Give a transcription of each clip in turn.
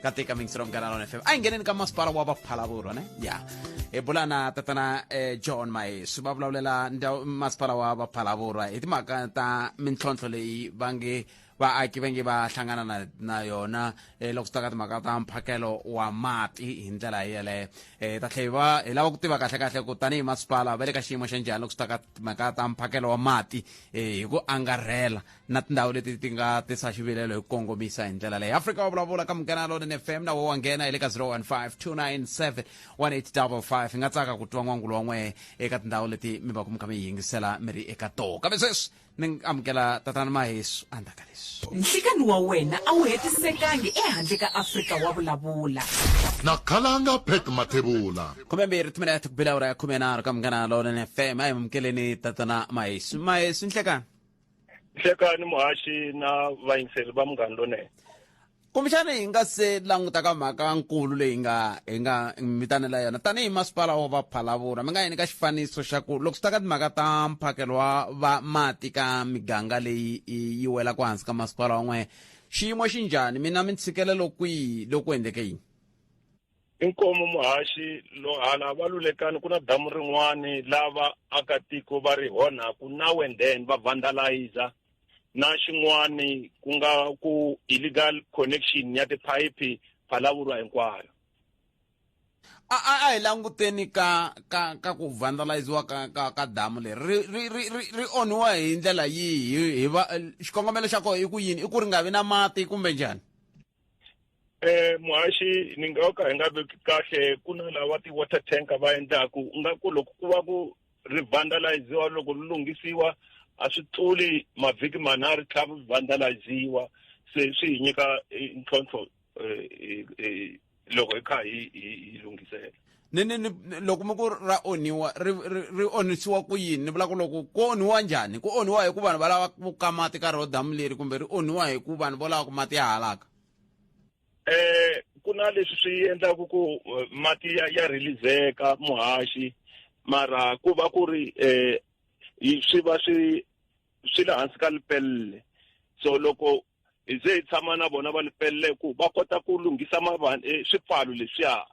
kati ka mixer of ganalon fm a hi ngheneni ka masipala wa vaphalavurwa ne ya hi bula na tatana eh, john mayesu va vulavulela ndhawu- masipala wa vaphalavurwa hi timhaka ta mintlhontlho leyi va nge vaaki va nge va hlangana na, na yona eh, loko swi ta ka timhaka ta mphakelo wa mati hi ndlela yeleyo eh, ta tlhe hi va hi lava ku tiva kahle kahle ku tanihi masipala va le ka xiyimo xa njhani loko swi ta ka timhaka ta mphakelo wa mati eh, hi ku angarhela na tindhawu leti ti nga tisa xivilelo hi ku kongomisa hi ndlela leyi afrika wa vulavula ka munghana lonen f m na wo wa nghena hi le ka 0152971855 hi nga tsaka ku twa n'wangulo wa n'wehe eka tindhawu leti mi va ku mi kha mi yi yingisela mi ri eka tona kambe sweswi ni amukela tatana mahesu andaka leswi nhlikani wa wena a wu hetisekangi ehandle ka afrika wa vulavula na khalanga pet mathebula khume mbirhi timinete ku bila ura ya khume nharhu ka munghana lonen f m a hi mukeleni tatana mahesu mahesu nhlekani hlekani muhaxi na vayingiseli va munghani lonene kumbexana hi nga se languta ka mhaka nkulu leyi nga hi nga mitanela yona tanihi masipala wa vaphalavura mi nga yini ka xifaniso xa ku loko swi ta ka timhaka ta mphakelo wa va mati ka miganga leyi yi welaka hansi ka masipala wan'we xiyimo xi njhani mina mi ntshikelelo kwihi loku endleke yini I nkomo muhaxi lo hala va lulekani ku na damu rin'wani lava akatiko va ri hona ku na wenden va vandalizer na xin'wani ku nga ku illegal connection ya tiphayiphi phalavurwa hinkwayo a a a hi languteni ka ka ka ku vandaliziwa ka ka ka damu leri ri ri ri ri ri onhiwa hi ndlela yihi hi va xikongomelo xa kona i ku yini i ku ri nga vi na mati kumbe njhani Eh muhaxi ni nga ka hi nga veki kahle ku na lava ti-water tanker va endlaku u nga ku loko ku va ku ri vandaliziwa loko ri lunghisiwa a swi tluli mavhiki manharhu tlhavu ri vandaliziwa se swi hi nyika ntlhontlho loko hi kha hi hi hi lunghisela ni ni ni loko mi ku ra onhiwa ri ri ri onhisiwa ku yini ni vula ku loko ku onhiwa njhani ku onhiwa hi ku vanhu va lava ku ka mati ka rho damu leri kumbe ri onhiwa hi ku vanhu vo lava ku mati ya halaka eh ku na leswi swi endlaka ku eh, mati ya, ya releaseka muhaxi mara ku va ku ri eh yi- swi va swi swi le hansi ka lipelle so loko hi ze hi tshama na vona va lipelle ku va kota ku lunghisa mavan eh, swipfalo leswiya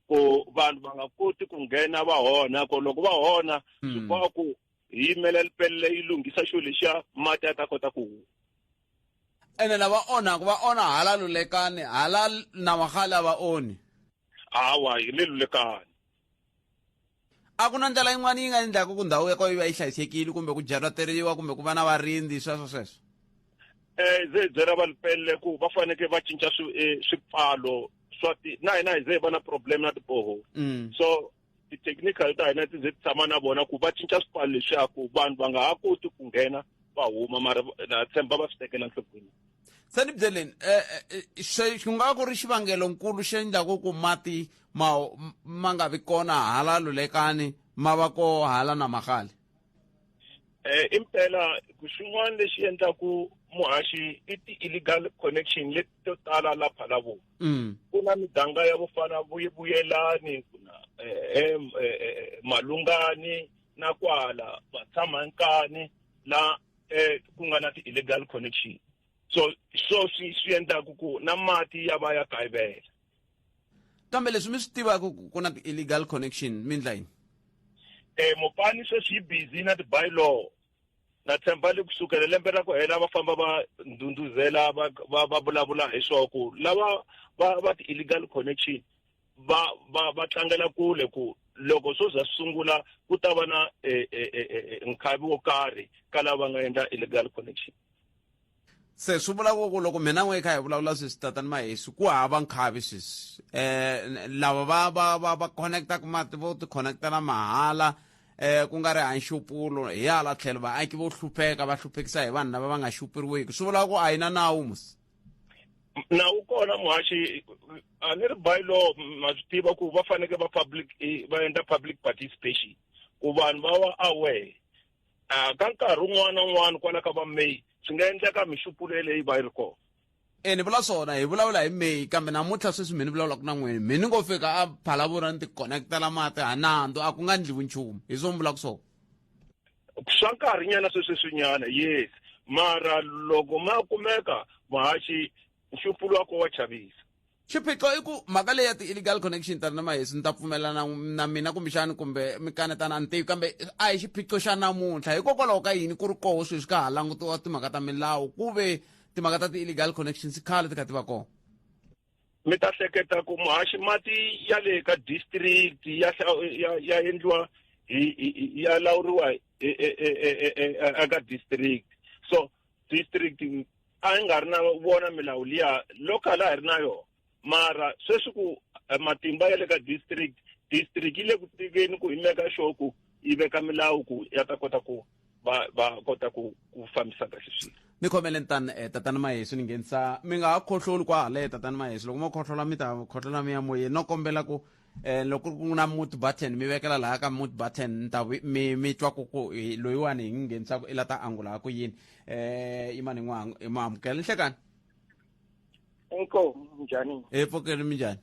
ku vanhu va nga koti ku nghena va hona ku loko va hona hmm. swi boha ku hi yimela lipelle yi lunghisa xo lexiya mati ya ta kota ku huma ene lava onhaka va onha hala lulekani hala na magale a va onhi hawa hi le lulekani a ku na ndlela yin'wana yi nga endlaka ku ndhawu ya ko yi va yi hlayisekile kumbe ku byalateriwa kumbe ku va na varindzi sweswo sweswo um ze byela va lipelele ku va fanekele va cinca eh, swipfalo swa ti na hina hi ze hi va na problem na tiboho mm. so ti-technical ta hina ti ze ti tshama na vona ku va cinca swipfalo leswaku vanhu va nga ha koti ku nghena va huma mara na tshemba va swi tekela nhlokweni se ni byeleni um ku nga ku ri xivangelonkulu xi endlaku ku mati ma ma nga vi kona hala lulekani ma va ko hala na magale um impela xin'wana lexi endlaku muhaxi i ti-illegal connection leti to tala la phalavu mm. ku na miganga ya ku fana vuyelani ku na um malungani na kwala vatshamankani la eh ku nga na ti-illegal connection so so swi swi endlaku ku na mati ya va ya kayivela kambe leswi mi swi tivaka ku na ti-illegal connection mi ndla yini eh mopani sweswi yi busy na ti-bylaw na tshemba le kusukela lembe ra ku hela va famba va ndhundhuzela va va vulavula hi swo ku lava va va ti-illegal connection va va va tlangela kule ku loko swo za sungula ku ta va na eh, eh, eh, nkhavi wo karhi ka lava va nga endla illegal connection se swi vula ku loko mina n'we kha hi vulavula sweswi tatani mahesi ku hava nkhavi sweswi um lava va va va va connectaka mati vo ti-connectela mahala um ku nga ri hanxupulo hi hala tlhelo vaaki vo hlupheka va hluphekisa hi vanhu lava va nga xupuriwiki swi vula ku a yi na nawu musi na wu kona muhaxi a ni ri bylaw ma swi tiva ku va faneke va public eh, va endla public participation ku vanhu va wa aware a ka nkarhi un'wana na un'wana kwala ka va may swi nga endleka mixupulo leyi va yi ri kona e ni vula swona hi vulavula hi may kambe namuntlha sweswi mi ni vulavulaka na n'wini mi ni ngo fika a phalavura ni ti-connectela mati ha nandzu a ku nga ndliwi nchumu hi swo mi vulaka swona swa nkarhi nyana sweswi swinyana yes mara loko ma kumeka muhaxi nxupulu wa ko wa chavisa xiphiqo i ku mhaka leyi ya ti-illegal connection tani na mahesi ni ta pfumelana na mina kumbexani kumbe mi kanetana a ni tivi kambe a hi xiphiqo xa namuntlha hikokwalaho ka yini ku ri koho sweswi ka ha langutiwa timhaka ta milawu ku ve timhaka ta ti-illegal connections khale ti kha ti va kona mi ta hleketa ku muhaxi mati ya le ka district ya ya, ya endliwa ya lawuriwa eka district so district a yi nga ri na vona milawu liya local a hi ri na yona mara sweswi ku eh, matimba ya le ka district district yi le ku tekeni ku himeka xoku yi veka milawu ku ya ta kota ku va va kota ku ku fambisa kahle swilo ni khomele tani eh, tatana mahesu ni nghenisa mi nga ha khohloli kwa haleye tatana mahesu loko mo khohlola mi ta khohlola mi ya moyeni no kombela ku eh loko ku na mute button mi vekela laha ka mute button ni ta mi mi twa ku ku loyiwani hi nghenisaka i la ta angula ha ku yini eh imani n'wi amukela ni hlekani inkomu njhani hi pfukeli mi njhani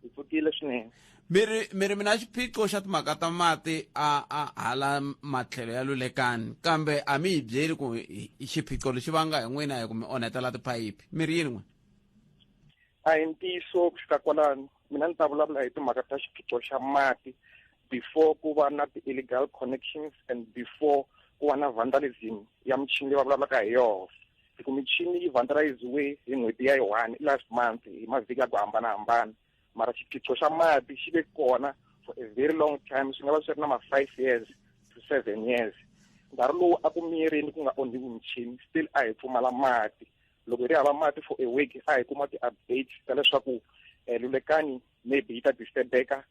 hi pfukile swinene mi ri mi ri mina xiphiqo xa timhaka ta mati a a hala matlhelo ya lulekani kambe a mi hi byeli ku xiphiqo lexi vanga hi n'wina hi ku mi onhetela tiphayiphi mi ri yini n'wina a hi ntiyiso ku fika kwalano mina ni ta vulavula hi timhaka ta xiphiqo xa mati before ku va na ti-illegal connections and before ku va na vandalism ya michini leyi va vulavulaka hi yona hi ku michini yi vandaliziwe hi n'hweti ya yi-one i last month hi mavhiki ya ku hambanahambana mara xiphiqo xa mati xi ve kona for a very long time swi nga va swi ri na ma-five years to seven years nkarhi lowu a ku miyerini ku nga onhiwi michini still a hi pfumala mati loko hi ri hava mati for a week a hi kuma ti-updates ta leswaku um lulekani maybe yi ta disturbeka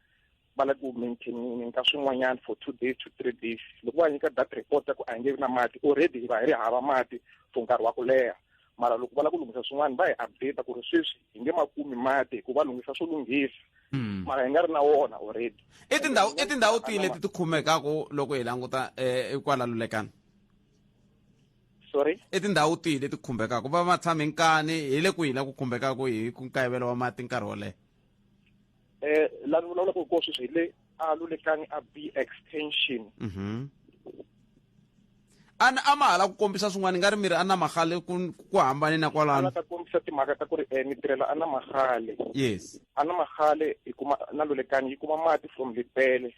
va lava ku maintainini ka swin'wanyana for two days to three days loko va nyika that report ya ku a hi nge vi na mati already hi va hi ri hava mati for nkarhi wa ku leha mara loko va lava ku lunghisa swin'wana va hi update ku ri sweswi hi nge ma kumi mati hikuva lunghisa swo lunghisa hmm. mara hi nga ri na wona already i tindhawu i tindhawu tihi leti ti khumekaka loko hi languta um kwala lulekana sorry i tindhawu tihi leti khumbekaka va va tshame nkani hi le kwihi la ku khumbekaka hi ku nkayivelo wa mati nkarhi wo leha eh la ni vulavulaka hi kona sweswi hi le a lulekangi a b extension mhm a ni a ma hala ku kombisa swin'wana nga ri mi ri a na magale ku ku hambane na kwalano ta kombisa timhaka ta ku ri um ni tirhela a na magale yes a na magale hi kuma na lulekangi yi kuma mati from lipele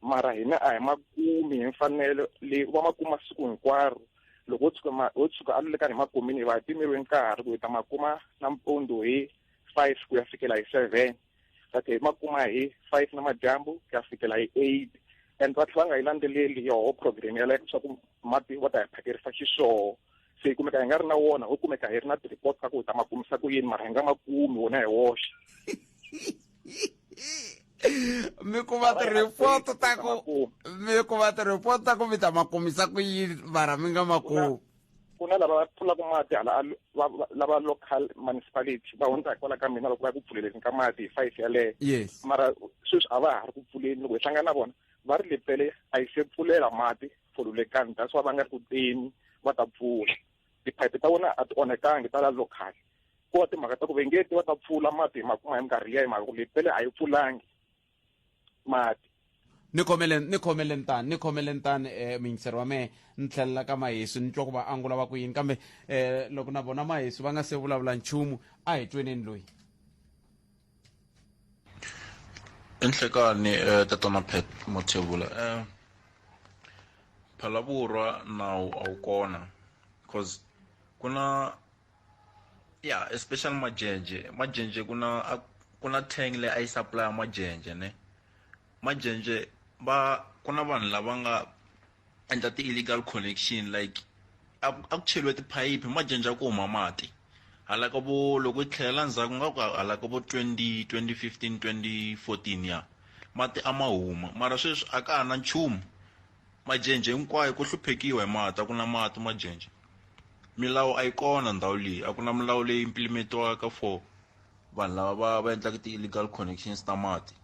mara hina a hi ma kumi hi mfanelo leyi va ma kuma siku hinkwaro loko wo tshuka wo tshuka a lulekangi hi ma kumini hi va hi pimerile nkarhi ku hi ta ma kuma nampundzu hi five ku ya fikela hi seven va tlhe hi ma kuma hi five na madyambu ku ya fikela hi eight and va tlhe va nga yi landzeleli yoho program yaleyo leswaku mati va ta hi phakerisa xiswoo se hi kumeka hi nga ri na wona ho kumeka hi ri na ti-report ta ku hi ta ma kumisa ku yini mara hi nga ma kumi wona hi woxe mi kuma ti-report ta ku mi kuma ti-report ta ku mi ta ma kumisa ku yini mara mi nga ma kumi ku na lava pfulaka mati hala lava local municipality va hundza hi kwala ka mina loko va ku pfuleleni ka mati hi five yaleyo yes mara sweswi a va ha ri ku pfuleni loko hi hlangana na vona va ri lepele a yi se pfulela mati folulekani that's why va nga ri ku teni va ta pfula tiphayiphi ta vona a ti onhekangi ta la local ko va timhaka ta ku vengeti va ta pfula mati hi makuma hi minkarhi liya hi mhaka ku lepele a yi pfulangi mati ni khomele ni khomele ntani ni khomele ntani um eh, muyingiseri wa mehe ni tlhelela ka mahesu ni twa ku va angula va ku yini kambe um loko na vona mahesu va nga se vulavula nchumu a hi tweneni loyi i nhlekani um eh, tatana pet mothevula um phalavurwa nawu a wu kona cause ku na ya especially majenje majenje ku na a- ku na tank leyi a yi supply majenje ne majenje va ku na vanhu lava nga endla ti-illegal connection like a ku a ku cheriwe tiphayiphi majenje a ku huma mati hala ka vo loko yi tlhelela ndzhaku nga ku hala ka vo 20 2015 2014 ya mati a ma huma mara sweswi a ka ha na nchumu majenje hinkwayo ku hluphekiwa hi mati a ku na mati majenje milawu a yi kona ndhawu leyi a ku na milawu leyi implimetiwaka for vanhu lava va va endlaka ti-illegal connections ta mati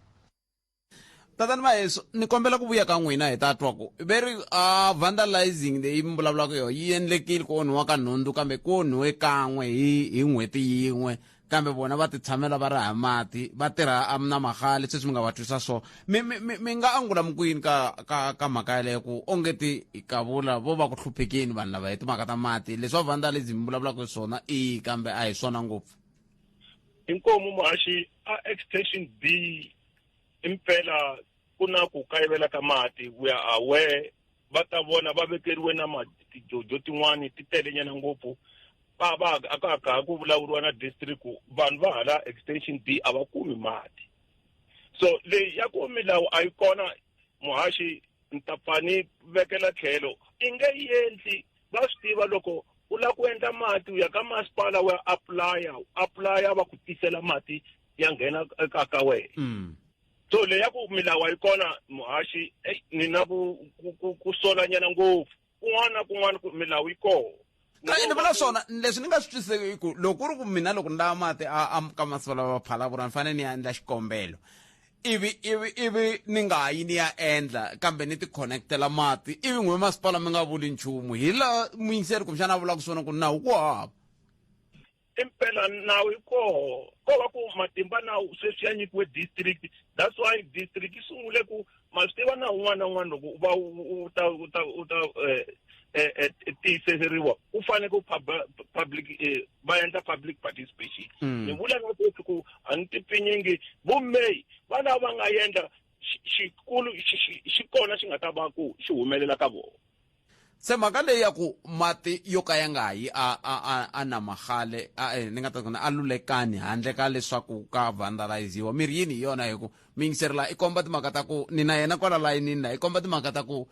tatani vayesu ni kombela ku vuya ka n'wina hi ta twa ku ve ri uh, vandalizing leyi mi vulavulaka yo yi endlekile ku onhiwa ka nhundzu kambe ku onhiwe kan'we hi hi n'hweti yin'we kambe vona va titshamela va raha mati va tirha na magale sweswi mi nga va twisa so mi mi mi mi nga angula mi kwini ka ka ka mhaka yaleyo ku onge ti kavula vo va ku hluphekini vanhu lava hi timhaka ta mati leswi va vandalism mi vulavulaka hi swona i kambe a hi swona ngopfu inkomu muhaxi a extension b impela ku na ku kayivela ka mati we are aware va ta vona va vekeriwe na ma tijojo tin'wani ti telenyana ngopfu va va a ka ka ha ku vulavuriwa na district ku vanhu va hala extension b a va kumi mati so leyi ya ku milawu a yi kona muhaxi ni ta pfa ni vekela tlhelo i nge yi endli va swi tiva loko u lava ku endla mati u ya ka masipala wa apply-a u apply-a va ku tisela mati ya nghena eka ka wena so leyi ya ku milawu a yi kona muhaxi eyi ni na ku ku- ku ku solanyana ngopfu kun'wana na kun'wana ku milawu yi kona Ka- ni vula swona leswi ni nga swi twisiseki i ku loko ku ri ku mina loko ni lava mati a- a- ka masiku lawa va phalapura ni fanele ni ya endla xikombelo ivi ivi ivi ni nga yi ni ya endla kambe ni ti-connectela mati ivi n'we masipala mi nga vuli nchumu hi la muyingiseri kumbexana a vulaka swona ku nawu ku hava i mpela nawu yi koho ko va ku matimba nawu sweswi ya nyikiwe district that's why district yi sungule ku ma swi tiva na un'wana na un'wana loko u va u ta u ta u ta um tiyiseriwa u fanele ku public va endla public participation hmm. ni vula nga koti ku a ni tipfinyingi vumeyi va lava va nga endla xikulu xi kona xi nga ta va ku xi humelela ka vona se mhaka leyi ya ku mati yo ka ya nga yi a a a a namahale a eh, ni nga ta kona a lulekani handle ka leswaku ka vandaliziwa mirhi yini hi yona hi ku miyingiseri la i komba timhaka ta ku ni na yena kwala layinini la i komba timhaka ta ku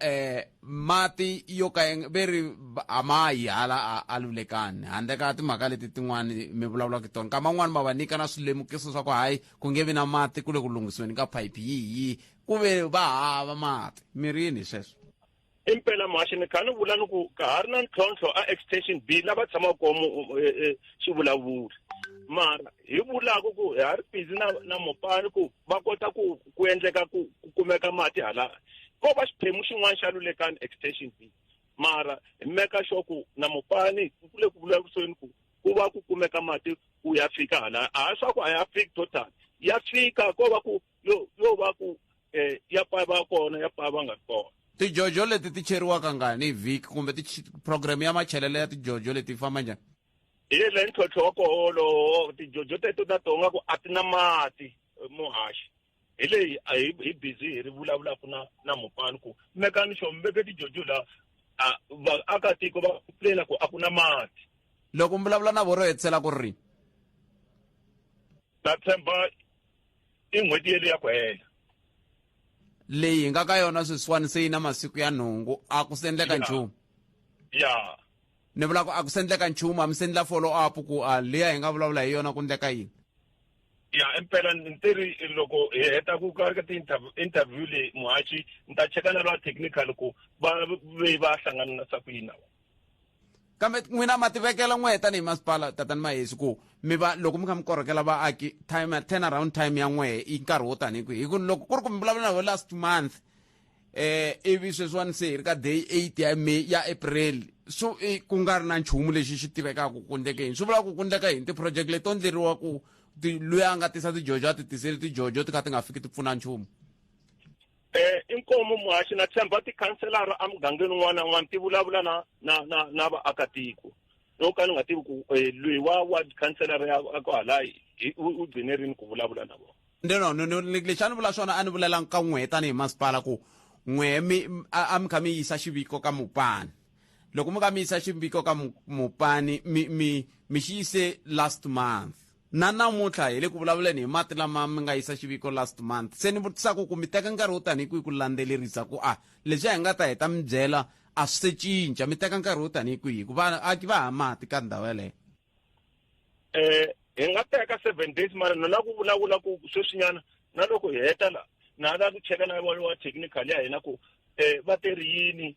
eh mati yo ka ve ri a ma yi hala a lulekani handle ka timhaka leti tin'wani mi vulavulaka tona nkama un'wani ma va nyika na swilemukiso swa ku hayi ku nge vi na mati ku le ku lunghisiweni ka phayiphi yihi ku ve va hava mati mirini sweswo impela mhaxi ni kha ni vula ni ku ka ha ri na ntlhontlho a extension b lava tshamaka komo e, e, xivulavuri mara hi vulaka ku ha ri busy na na mopani ku va kota ku ku endleka ku ku kumeka mati hala ko va xiphemu xin'wana xa lulekani extension b mara hi meka sure ku na mopani ku le ku vulavuriseni ku ku va ku kumeka mati ku ya fika hala a swa ku a ya fiki total ya fika ko va ku yo yo va ku eh ya pava kona ya pava nga kona tijojo leti ti cheriwaka ngani hi vhiki kumbe program ya machelelo ya tijojo leti famba njhani hi le ntlhontlho wa koho wolowo tijojo teto ta tonga ku a ti na mati eh, muhaxi hi leyi a hi hi busy hi ri vulavulaka na na mupani ku mekani xo mi veke tijojo la vaakatiko va plela ku a ku na mati loko mi vulavula na voro hetsela ku ri ta tshemba i n'hweti yeliya ku hela leyi hi nga ka yona sweswiwani se yi na masiku ya nhungu a ku sendleka Yeah. nchumu ya ni vula ku a ku sendleka nchumu a mi sendla follow up ku a liya hi nga vulavula hi yona ku ndleka yini ya impela ni te ri loko hi heta ku ka ka ti-interv- interview leyi muhaxi ni ta cheka na lwa technical ku va ve va hlangana na sa ku yini na vona kambe n'wina ma tivekela n'wehe tanihi masipala tatani mahesi ku mi va loko mi kha mi korhokela vaaki time turn around time ya n'wehe i nkarhi wo tanihi kwihi hi ku loko ku ri ku mi vulavula na last month eh ivi sweswiwani se hi ri ka day eight ya may ya april so e, ku nga ri na nchumu lexi xi tivekaka ku kundleke yini swi vula ku kundleka yini ti-project leti to ndleriwa ku luya a nga tisa tijojo a ti tiseli tijojo ti kha ti nga fiki ti pfuna nchumu Eh, i nkomo muhaxi na tshemba tikhanselara emugangeni un'wana na un'wana ti vulavula na na na na vaakatiko no ka ni nga tivi ku eh, loyi wa wa khanselara ya ya kwahala hi- u u gcine rini ku vulavula na vona no no no, no le- lexi a ni vula swona a ni vulelangi ka n'wehe tanihi masipala ku n'wehe mi m- a a mi kha mi yisa xiviko ka mupani loko mi kha mi yisa xiviko ka mu- mupani mi mi mi xi yise last month Na namuntlha hi le ku vulavuleni hi mati lama mi nga yisa xiviko last month. Se ni vutisa ku ku mi teka nkarhi wo tanihi kwihi ku landzelerisa ku a leswi a hi nga ta heta mi byela a swi se cinca? Mi teka nkarhi wo tanihi kwihi ku vaaki va ha mati ka ndhawu yaleyo? Eh, hi nga teka seven days mara na la ku vulavula ku sweswinyana na loko hi heta la na la ku cheka na wa wa technical ya hina ku eh va teri yini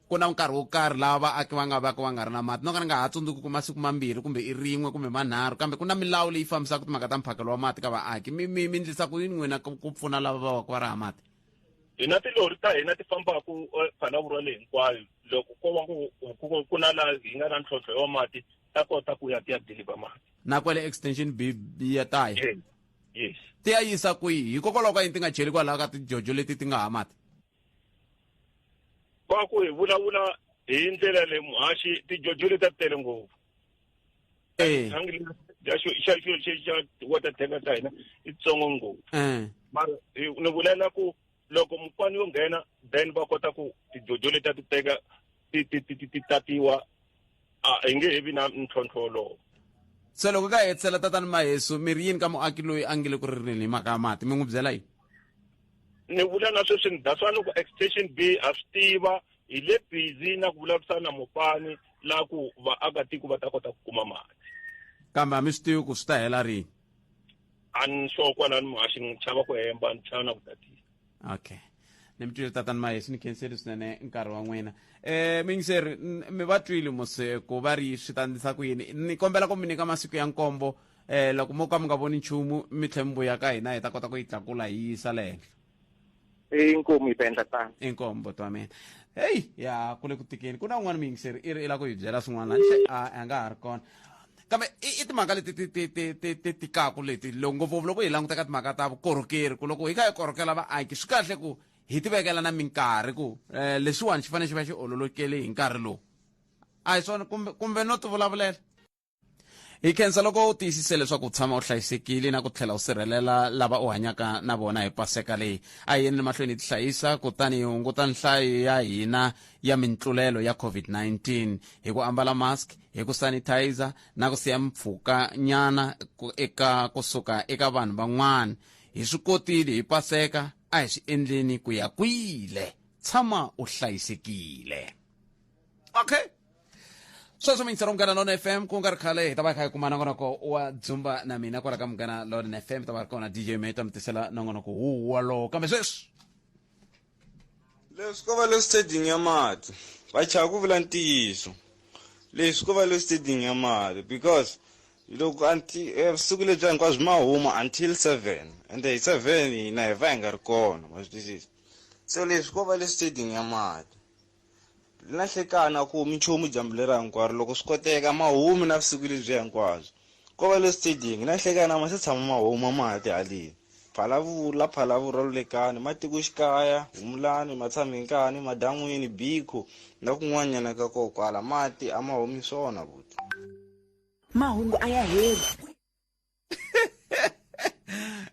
Ku na nkarhi wo karhi laha vaaki va nga vaka va nga ri na mati. No ka ni nga ha tsundzuki ku masiku mambirhi kumbe i rin'we kumbe manharhu, kambe ku na milawu leyi fambisaka timhaka ta mphakelo wa mati ka vaaki. Mi, mi, mi ndlisa ku yini n'wina ku, ku pfuna lava va vaka va ri hava mati? Hi na tilori ta hina ti fambaka Phalaborwa leyi hinkwayo. Loko ko va ku, ku, ku na laha hi nga na ntlhontlho wa mati, ta kota ku ya ti ya deliver mati. Na kwale Extension B, B ya ta ya. Yes, yes. Ti ya yisa kwihi? Hikokwalaho ka yini ti nga cheli kwalaho ka tijojo leti ti nga hava mati? va ku hi vulavula hi ndlela leyi muhaxi tijojo leti ta tele ngopfu Eh. thangi lexi xa xo- xa xo- xa- xa water tanker ta hina i tsongo ngopfu Eh. mara eh, ni vulela ku loko mupani yo nghena then va kota ku tijojo leti a ti teka ti ti ti ti ti tatiwa a hi nge he vi na ntlhontlho wolowo so loko ka hetisela tatani mahesu mi ri yini ka muaki loyi a nge le ku ririni hi mhaka ya mati mi n'wi byela yini ni vula na sweswi ni that's why loko extension b ha swi tiva hi le busy na ku vulavurisana na mopani la ku vaakatiko va ta kota ku kuma mati kambe a mi swi tivi ku swi ta hela rini a ni sure kwalani muhaxi ni chava ku hemba ni chava na ku tatisa okay ni mi twile tatani mayesu ni khenseli swinene nkarhi wa n'wina um mingiseri n- mi va twile mose ku va ri swi ta ndlisa ku yini ni kombela ku mi nyika masiku ya nkombo um loko mo ka mi nga voni nchumu mi tlhe mi vuya ka hina hi ta kota ku yi tlakula hi yisa le henhla inkomu yi ta endla tano inkombo twa mina heyi ya ku le ku tikeni ku na un'wana miyingiseri i ri i la ku hi byela swin'wana hle a a nga ha ri kona kambe i timhaka leti ti ti ti ti ti tikaku leti loko ngopfungopfu loko hi languta ka timhaka ta vukorhokeri ku loko hi kha hi korhokela vaaki swi kahle ku hi ti vekela na minkarhi ku um lexiwani xi fanele xi va xi ololokele hi nkarhi lowu a hi swona kumbe kumbe no ti vulavulela hi khensa loko u tiyisise leswaku u tshama u hlayisekile na ku tlhela u sirhelela lava u hanyaka na vona hi paseka leyi a hi yeni mahlweni hi ti hlayisa kutani hi hunguta nhlayo ya hina ya mintlulelo ya covid-19 hi ku ambala mask hi ku sanitizer na ku siya mpfhuka nyana eka kusuka eka vanhu van'wana hi swi kotile hi paseka a hi swi endleni ku ya kwile tshama u hlayisekile okay sweswo mingisela munghana lona fm ku nga ri khale hi ta va hi kha hi kuma nongonoko wa dzumba na mina kwala ka munghana lona fm hi ta va ri kona dj meta mi tisela nongonoko wu wolowo kambe sweswi leswi ko va le stadium ya mati va chava ku vula ntiyiso leswi ko va le stadium ya mati because loko eh, vusiku lebyi hinkwabyo ma huma until seven and hi seven hina hi va hi nga ri kona ma swi twisisa so leswi ko va le stadium ya mati Na hlekana ku mi nchumu dyambu lera hinkwaro loko swi koteka ma humi na vusiku lebyi hinkwabyo. Ko va le stadium na hlekana ma se tshama ma huma ma ha tihaleni. Phalavula, Phalavula, Lulekani, Matikoxikaya, Humulani, Matshamhenkani, Madan'wini, Biko na kun'wanyana ka ko kwala mati a ma humi swona buti. Mahungu a ya heli.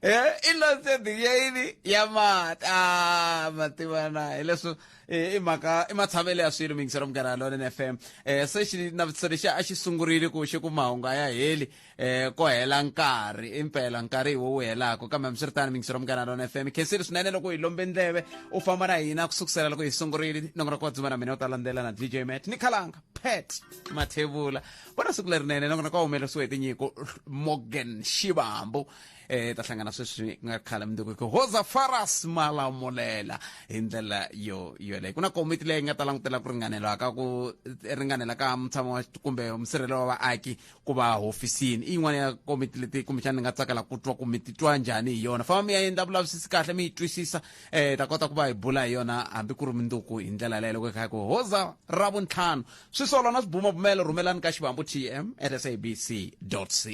Eh, innocent ya yini ya mati ah mativana hileswo eh, i mhaka i matshavelo ya swilo mingiselo munghana lonen f m eh, se xi navutiselo lexi a xi sungurile ku xi ku mahungu a ya heli eh, ko hela nkarhi impela nkarhi hi wo wu helaka kambe hambiswiritano mingiselo munghana lonen f m khensile swinene loko hi lombe ndleve u famba na hina ku sukusela loko hi sungurile nongonoko wa dzuma na mina u ta landzela na dj mat ni khalanga pet mathevula va na siku lerinene nakona ka humelerisiwe hi tinyiko morgan xivambu eh ta hlangana sweswi ku nga khala mundzuku ku hoza faras malamulela hi ndlela yo yoleyo ku na komiti leyi nga ta langutela ku ringanelwa ka ku ringanela ka mutshamo wa kumbe musirhelelo wa vaaki ku va hofisini i yin'wana ya komiti leti kumbexana ni nga tsakela ku twa ku mi titwa njhani hi yona famba mi ya endla vulavisisi kahle mi yi twisisa eh ta kota ku va hi bula hi yona hambi ku ri mundzuku hi ndlela leyo loko hi kha hi ku hoza ra vuntlhanu swisolo na swibumabumelo rhumelani ka xivambu tm at sabc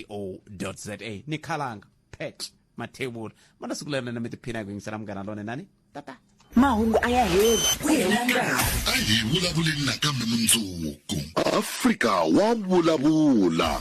co za ni khalanga pet mathevula ma na siku lerinene mi tiphina hi ku yingisela munghana lone nani tata mahungu a ya heli ku hela nkarhi a hi vulavuleni nakambe mundzuku afrika wa vulavula